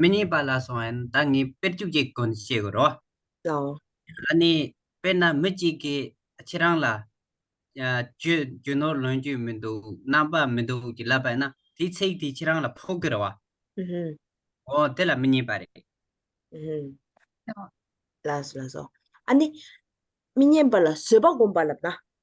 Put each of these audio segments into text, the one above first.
མི་གཉིས་པ་ལ་སོང་ཡན་ད་ངས་དཔེར་བཅུ་གཅིག་གོ་འདི་བྱེད་དགོས་རོ། ལའོ། ཨ་ནི། དཔེར་ན་མི་གཅིག་གིས་ཁྱེད་རང་ལ། གྱོད་ནོར་ལོན་རྒྱུ་མི་འདུག་རྣམ་པ་མི་འདུག་ཅེས་ལབ་པ་ཡིན་ན་དེའི་ཚིག་དེས་ཁྱེད་རང་ལ་ཕོག་དགོས་རེད་བ། ཧཧཧ་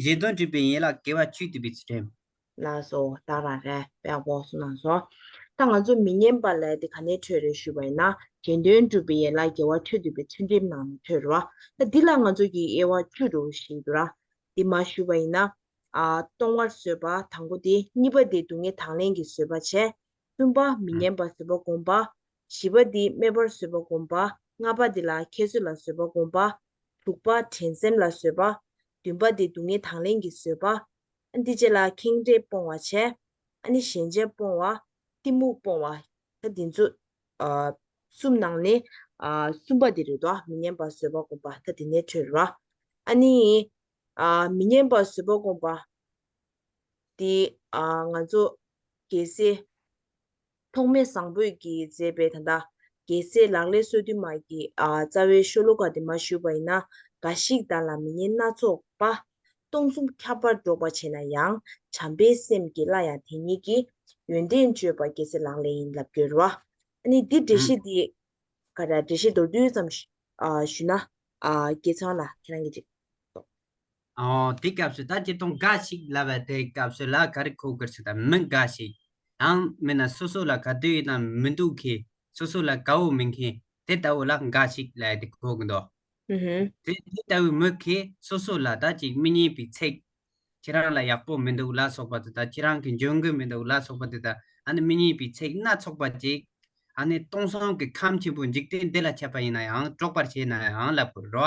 གཞན་དོན་སྒྲིབ་པའི་ཡན་ལག་དགེ་བ་བཅུས་བསྡུས་པའི་ཚུལ། ལ་སོགས་བདག་དང་རལ་པའི་བོགས་སུ་གནང་སོ། ད་ང་ཚོ་མི་སྙན་པ་ལས་དེ་ག་ནས་འཕྲོས་རེད་ཞུས་པ་ཡིན་ན་གཞན་དོན་སྒྲུབ་པའི་ཡན་ལག་དགེ་བ་བཅུས་བསྡུས་པའི་ཚུལ་འགྲེམས་ནང་ནས་འཕྲོས་རེད་བ། ད་འདི་ལ་ང་ཚོ་ཀྱིས་དབྱེ་བ་བཅུ་རུ་ཞིག་བསྡུ་ར། འདི་མ་ཞུས་པ་ཡིན་ན། ཨ། གཏོང་བར་བཟོད་པ་དང་པོ་དེ་གཉིས་པ་དེ་སྡུག་བསྔལ་དང་ལེན་གྱི་བཟོད་པ་བྱས། གསུམ་པ་མི་སྙན་པ་བཟོད་པ་བསྒོམ་པ། བཞི་པ་འདི་སྨད་པར་བཟོད་པ་བསྒོམ་པ། ལྔ་པ་འདི་ལ་ཁྱད་གསོད་ལ་བཟོད་པ་བསྒོམ་པ། དྲུག་པ་དྲན་སེམས་ལ་བཟོད་པ། བདུན་པ་འདི་སྡུག་བསྔལ་དང་ལེན་གྱི་བཟོད་པ། འདི་བཅས་ལ་ཁེངས་དྲེགས་སྤོང་བར་བྱ། ནི་ཞེན་ཆགས་སྤོང་བ། གཏི་མུག་སྤོང་བ། ད་འདི་ཚོ། གསུམ་ནང་ནས། གསུམ་པ་འདི་རེ་དོགས་མི་སྙན་པ་བཟོད་པ་བསྒོམ་པ། ད་འདི་ནས་འཕྲོས། ནི། མི་སྙན་པ་བཟོད་པ་བསྒོམ་པ། འདི་ང་ཚོ་རྒྱལ་སྲས། ཐོགས་མེད་བཟང་པོས་ཀྱིས་མཛད་པའི་ད་ལྟ་རྒྱལ་སྲས་ལག་ལས་སྲོལ་རྒྱུན་མར་གྱི་རྩ་བའི་ཤོ་ལོ་ཀ་དེ་མ་ཞུས་པ་ཡིན་ན་འགའ་ཞིག་དག་ལ་མི་ཉན་སྣ་ཚོགས་པ། སྟོང་གསུམ་ཁྱབ་པར་སྒྲོགས་པར་བྱེད་ན་ཡང་བྱམས་པའི་སེམས་ཀྱིས་སླར་ཡང་དེ་ཉིད་ཀྱི་ཡོན་ཏན་བརྗོད་པ་རྒྱལ་སྲས་ལག་ལས་ཡིན་ལབ་འགྱུར་བ། ནི་འདི་འགྲེལ་བཤད་འདི་ག་འདྲ་འགྲེལ་བཤད་མདོར་བསྡུས་ཙམ་ཞུས་ན། རྒྱལ་ཚང་ལ་ཁྱེད་རང་གིས་ཅིག། དེའི་སྐབས་སུ་ད་ཀྱི་སྟོང་འགའ་ཞིག་ལབ་པ་དེའི་སྐབས་སུ་ལ་ག་རེ་ཁོ་གར་སོ་དང་མི་འགའ་ཞིག་དང་མིན་ན་སོ་སོ་ལ་ག་དུས་ཡིན་ན་མི་འདུག་གི་སོ་སོ་ལ་ག་བོ་མིན་གི་དེ་ལྟ་བུ་ལ་འགའ་ཞིག་ལ་དེ་ཁོ་གི་འདོག་དེ་དེ་ལྟ་བུའི་མི་གི་སོ་སོ་ལ་ད་ཀྱི་མི་སྙན་པའི་ཚིག་ཁྱེད་རང་ལ་ཡག་པོ་མི་འདུག་ལ་སོགས་པ་དེ་དང་ཁྱེད་རང་གི་འཇོན་གི་མི་འདུག་ལ་སོགས་པ་དེ་དང་ཨ་ནི་མི་སྙན་པའི་ཚིག་སྣ་ཚོགས་པ་ཅིག་ཨ་ནི་སྟོང་སང་གི་ཁམས་ཆེན་པོ་འཇིག་རྟེན་འདི་ལ་འཆད་པ་ཡིན་ན་ཡང་དཀྲོག་པར་བྱེད་ན་ཡང་ལབ་དགོས་རོ།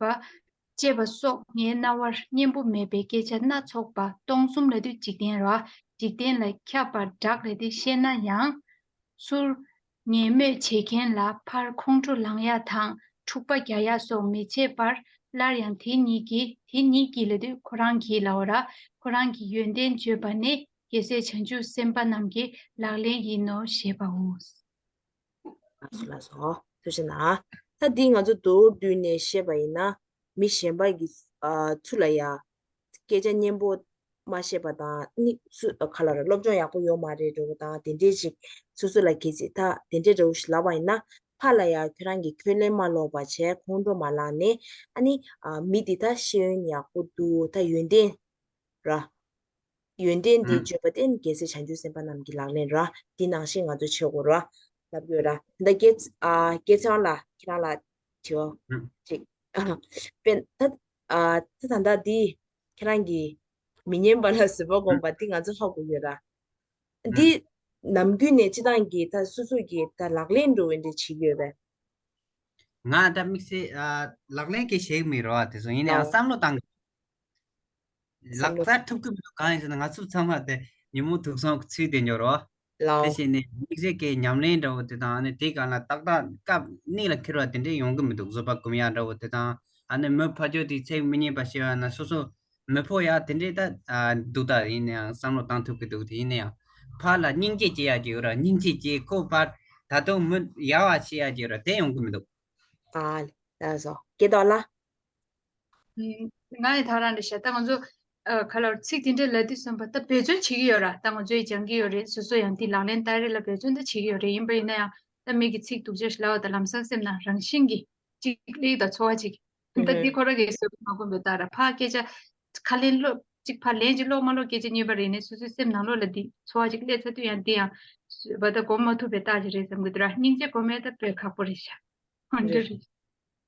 པ། ཅེས་པ་སོགས་ངའི་རྣ་བར་སྙན་པོ་མེད་པའི་སྐད་ཆ་སྣ་ཚོགས་པ་སྟོང་གསུམ་ལ་དུས་འཇིག་རྟེན་ར་འཇིག་རྟེན་ལ་ཁྱབ་པར་བསྒྲགས་ལས་དེ་བཤད་ན་ཡང། ཚུར། ངན་སྨོད་བྱེད་མཁན་ལ་ཕར་ཁོང་ཁྲོ་ལངས་ཡག་དང་འཁྲུག་པ་རྒྱག་ཡག་སོགས་མི་བྱེད་པར་སླར་ཡང་དེ་གཉིས་ཀྱིས་དེ་གཉིས་ཀྱིས་ལ་དུས་ཁོ་རང་གིས་ལའོ་ར་ཁོ་རང་གི་ཡོན་ཏན་བརྗོད་པ་ནི་རྒྱལ་སྲས་བྱང་ཆུབ་སེམས་དཔའ་རྣམས་ཀྱི་ལག་ལེན་ཡིན་ནོ་ཞེས་པའོ། སུ་ལ་སོགས་སོ་ཞེ་ན། ལྷ་འདིས་ང་ཚོ་དུག་བསྡུས་ནས་བཤད་པ་ཡིན་ན། མི་གཞན་པ་ཡི་ཚུལ་ལ་ཡ། སྐད་ཆ་སྙན་པོ་མ་བཤད་པ་དང་ནི། སུ་ག་ལ་ར་སློབ་སྦྱོང་ཡག་པོ་ཡོད་མ་རེད་རེ་བོ་དང་དེ་འདྲས་ཅིག་སོ་སོ་ལ་གལ་ཆེ་ད་དེ་འདྲས་རེ་བོ་ཞིག་ལབ་པ་ཡིན་ན། ཕར་ལ་ཡ་ཁྱོད་རང་གི་ཁྱོད་གླེང་མ་ལོག་པ་བྱས་ཁོང་ཁྲོ་མ་ལངས་ནས་ཨ་ནི། མི་འདི་ད་ཤེས་ཡོན་ཡག་པོ་འདུག་ད་ཡོན་ཏན་ར། ཡོན་ཏན་འདི་བརྗོད་པ་སྟེ་རྒྱལ་སྲས་བྱང་ཆུབ་སེམས་དཔའ་རྣམས་ཀྱི་ལག་ལེན་ར། འདི་ནང་བཞིན་ང་ཚོས་བྱེད་དགོས་ར། ལབ་དགོས་ར། ད་སྐལ། སྐལ་བཟང་ལ་ཁྱེད་རང་ལ། དྲིའོ། ཅིག། དཔེར་ན། ད་ད་ད་ལྟ་འདི། ཁྱེད་རང་གི། མི་སྙན་པ་ལ་བཟོད་པ་སྒོམ་པ་འདི་ང་ཚོས་ཧ་གོ་དགོས་ར། འདི། ནམ་རྒྱུན་ནས་སྤྱི་བཏང་གི་ད་སོ་སོ་གི་ད་ལག་ལེན་འགྲོ་འོས་འདྲའི་བྱེད་ཡོད་པས། ང་ད་དམིགས་བསལ། ལག་ལེན་གྱི་བྱེད་མི་རོ་བ་དེ་ཚོ་ཡིན་ནའང་བསམ་བློ་བཏང། ལག་བསྟར་ཐུབ་ཀྱི་མི་འདུག་གང་ཡིན་ཟེར་ན་ང་ཚོ་ཚང་མ་དེ་ཉིན་མོ་དུག་སྲུང་གི་ཚུལ་དེ་འབྱོར་རོགས། དེ་བྱས་ནས་མིག་གཟེར་ཁའི་ཉམས་ལེན་འདྲ་བོ་དེ་དང་ཨ་ནི་དེའི་སྒང་ལ་ཏག་ཏག་སྐབས་དམིགས་ལ་འཁེལ་བ་དེ་འདྲས་ཡོང་གི་མི་འདུག་བཟོ་པ་གུམ་ཡག་འདྲ་བོ་དེ་དང་ཨ་ནི་མོའི་ཕ་ཇོ་དེའི་ཚེགས་མི་རྙེད་པ་ཞེས་པ་ན་སོ་སོ་མི་ཕོ་ཡག་དེ་འདྲས་ད་འདུག་ད་ཡིན་ན་ཡང་བསམ་བློ་བཏང་ཐུབ་ཀྱི་འདུག་དེ་ཡིན་ན་ཡང་ཕ་ལ་སྙིང་རྗེ་སྐྱེ་ཡག་གི་ཡོད་ར་སྙིང་རྗེ་སྐྱེ་ཁོ་ཕར་ད་དུང་མི་ཡག་བ་བྱེད་ཡག་གི་ཡོད་ར་དེ་ཡོང་གི་མི་འདུག། ཨ། ད་བཟོ་སྐད་དོག་ལ། ང་ཡི་ཐག་རང་རེད་ཤག་ད་ང་ཚོ་ག་ལ་ཚིག་དེ་འདྲས་ལ་དེ་གསུངས་པ་ད་འབད་བརྩོན་བྱེད་ཀྱི་ཡོད་ར་ད་ང་ཚོ་ཡི་སྦྱང་གི་ཡོད་རེད་སོ་སོ་ཡང་དེ་ལག་ལེན་བསྟར་རེས་ལ་འབད་བརྩོན་ད་བྱེད་ཀྱི་ཡོད་རེད་ཡིན་པ་ཡིན་ན་ཡང་ད་མིག་གི་ཚིག་དུག་ཅག་ཤི་ལ་བ་ད་ལམ་སང་སེམས་ན་རང་བཞིན་གྱི་ཅིག་ལེའུ་དང་འཚོ་བ་ཅིག་ད་དེ་ཁོ་ར་གའི་ས་བོན་མ་གོན་པའི་རྟགས་ར་ཕ་སྐད་ཆ་ཁ་ལེན་ལོ་ཅིག་ཕ་ལན་ཅིག་ལོག་མ་ལོག་སྐད་ཆ་གཉིས་པ་རེད་ནས་སོ་སོའི་སེམས་ནང་ལོག་ལ་དེ་འཚོ་བ་ཅིག་སླེ་ཚ་དུས་ཡང་དེ་ཡང་བ་ད་གོམས་མ་ཐུབ་པའི་རྟགས་ཅིག་རེད་བསམ་གི་འདུག་ར་སྙིང་རྗེ་གོ་མེད་ད་བོད་ཁ་པོ་རེད་ཤག་འོན་ཀྱི་རེད།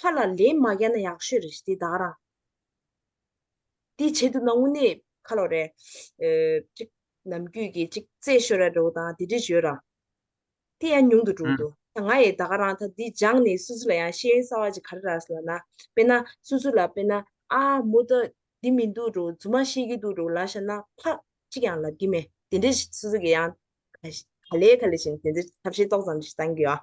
ལྷ་ལ་ལན་མ་བརྒྱག་ན་ཡག་ཤོས་རེད་འདི་བདག་རང། དེ་བྱེད་ཐུབ་ན་དངོས་གནས་ཁ་ལོ་རེད། གཅིག་ནམ་རྒྱུད་ཀྱི་གཅིག་རྩེད་ཤོར་ར་འགྲོ་དང་དེ་འདྲས་བྱོས་ར། དེ་ཡང་ཉུང་དུ་འགྲོ་འདུག་ད་ང་ཡི་བདག་རང་ད་འདི་སྦྱངས་ནས་སུ་སུ་ལ་ཡང་ཤེས་ཡོན་གསར་བ་ཅིག་ག་རེ་ར་ལ་ན་དཔེ་ན་སུ་སུ་ལ་དཔེ་ན་ཨ་མོ་ད་འདི་མི་འདུག་འགྲོ་རྫུན་མ་ཤེས་ཀྱི་འདུག་འགྲོ་ལ་ཤ་ན་ཕག་གཅིག་ཡང་ལབ་ཀྱི་མེད་དེ་འདྲས་སུ་སུ་གི་ཡང་ག་ལེ་ག་ལེ་བྱས་ནས་དེ་འདྲས་ཐབས་ཤེས་ཏོག་ཙམ་ཞིག་བཏང་གི་ཡོད།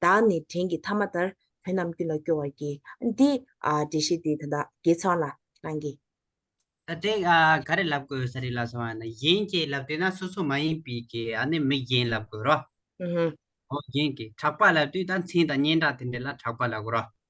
བདག་ནི་དྲིན་གྱི་ཐ་མ་ལྟར། བོན་རྣམས་ཀུན་ལ་སྐྱོ་བར་གྱིས། འདི། འདྲེ་བཞི་འདི། དགེ་ཚང་ལ། རང་གི། དེ། ག་རེ་ལབ་དགོས་ས་རེད་ལབ་སོང་བ་ནི་གཞན་གྱིས་ལབ་དུས་ན་སོ་སོ་མ་ཡིན་པའི་གི་ཨ་ནི་མི་གཞན་ལབ་དགོས་རོ། ཨོ་གཞན་གྱིས་གྲགས་པ་ལབ་དུས་ད་མཚན་དང་སྙན་གྲགས་དེ་འདྲས་ལ་གྲགས་པ་ལབ་དགོས་རོ།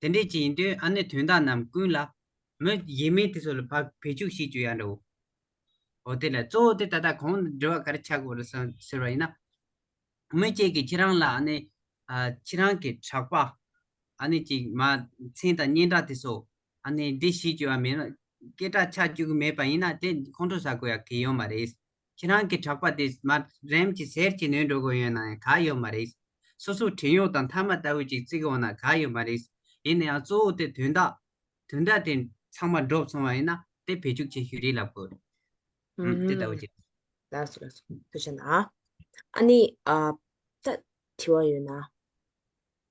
དེ་འདྲའི་ཅི་ཡིན་དུས་ཨ་ནི་དོན་དག་རྣམས་ཀུན་ལ། མི་ཡིན་མིན་དེ་ཚོ་ལ་བག་བེད་ཅུག་ཤེས་རྒྱུ་ཡང་འདྲ་བོ། འོ་དེ་ལ་གཙོ་བོ་དེ་ད་ལྟ་གང་འདྲི་བ་གར་ཆག་གོ་རེད་ཟེར་བ་ཡིན་ན། མི་གཅིག་གིས་ཁྱེད་རང་ལ་ཨ་ནི། ཁྱེད་རང་གི་གྲགས་པ། ཨ་ནི་ཅིག་མ། མཚན་དང་སྙན་གྲགས་དེ་ཚོ། ཨ་ནི་འདི་ཤེས་རྒྱུ་ཡང་མེད། སྐད་གྲགས་ཆག་རྒྱུ་མེད་པ་ཡིན་ན་དེ་ཁོང་ཁྲོ་ཟ་དགོས་ཡ་གི་ཡོད་མ་རེད། ཁྱེད་རང་གི་གྲགས་པ་དེ་མ་རེམ་གྱི་ཟེར་གྱི་ནོན་འགྲོ་གི་ཡོད་ནའང་ག་ཡོད་མ་རེད། སོ་སོའི་བྲན་གཡོག་དང་མཐའ་མ་ལྟ་བུ་ཅིག་བརྩིགས་འོང་ན་ག་ཡོད་མ་རེད། ཡིན་ནའང་གཙོ་བོ་དེ་དོན་དག། དོན་དག་དེ་ཚང་མ་འགྲོབ་སོང་བ་ཡིན་ན་དེ་བེད་སྤྱུགས་བྱེད་ཤུལ་རེད་ལབ་དགོས། ཨམ། དེ་ལྟ་བུ་ཅིག། ལགས་སོ་ལགས་སོ། དེ་བྱས་ན། ཨ་ནི། ད། དྲི་བ་ཡོད་ན།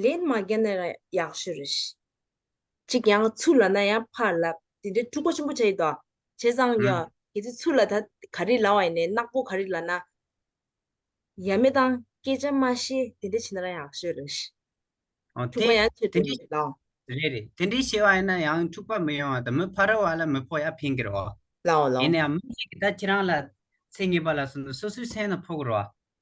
ལན་མ་རྒྱག་ན་ཡང་ཡག་ཤོས་རེད། གཅིག་ཡང་ཚུར་ལ་ན་ཡང་ཕར་ལ་དེ་འདྲའི་འཁྲུག་པོ་ཆེན་པོ་བྱས་ཡོད་དོ། བྱས་ཙང་ཡང་གལ་ཏེ་ཚུར་ལ་ད་ག་རེ་ལ་བ་ཡིན་ནའི་ནག་པོ་ག་རེ་ལ་ན་ཡ་མེད་དང་སྐད་ཆ་མ་ཤེས་དེ་འདྲ་བྱས་ན་རང་ཡག་ཤོས་རེད། འོ་འཁྲུག་དེ་པ་ཡང་ཆེ་དེ་འདྲ་འདྲ་ཡོད་དོ། རེད་རེད་དེ་འདྲའི་བྱས་བ་ཡིན་ན་ཡང་འཁྲུག་པ་མི་ཡོང་བ་དང་མི་ཕ་རོལ་བ་ལ་མི་ཕོག་ཡ་ཕན་གི་རོ། ལའོ་ལའོ། ཡིན་ནའང་མི་ཞིག་གིས་ད་ཁྱེད་རང་ལ་ཚེ་ངེས་པ་ལ་སོན་ན་སོ་སོའི་སེམས་ན་ཕོག་གི་རོ།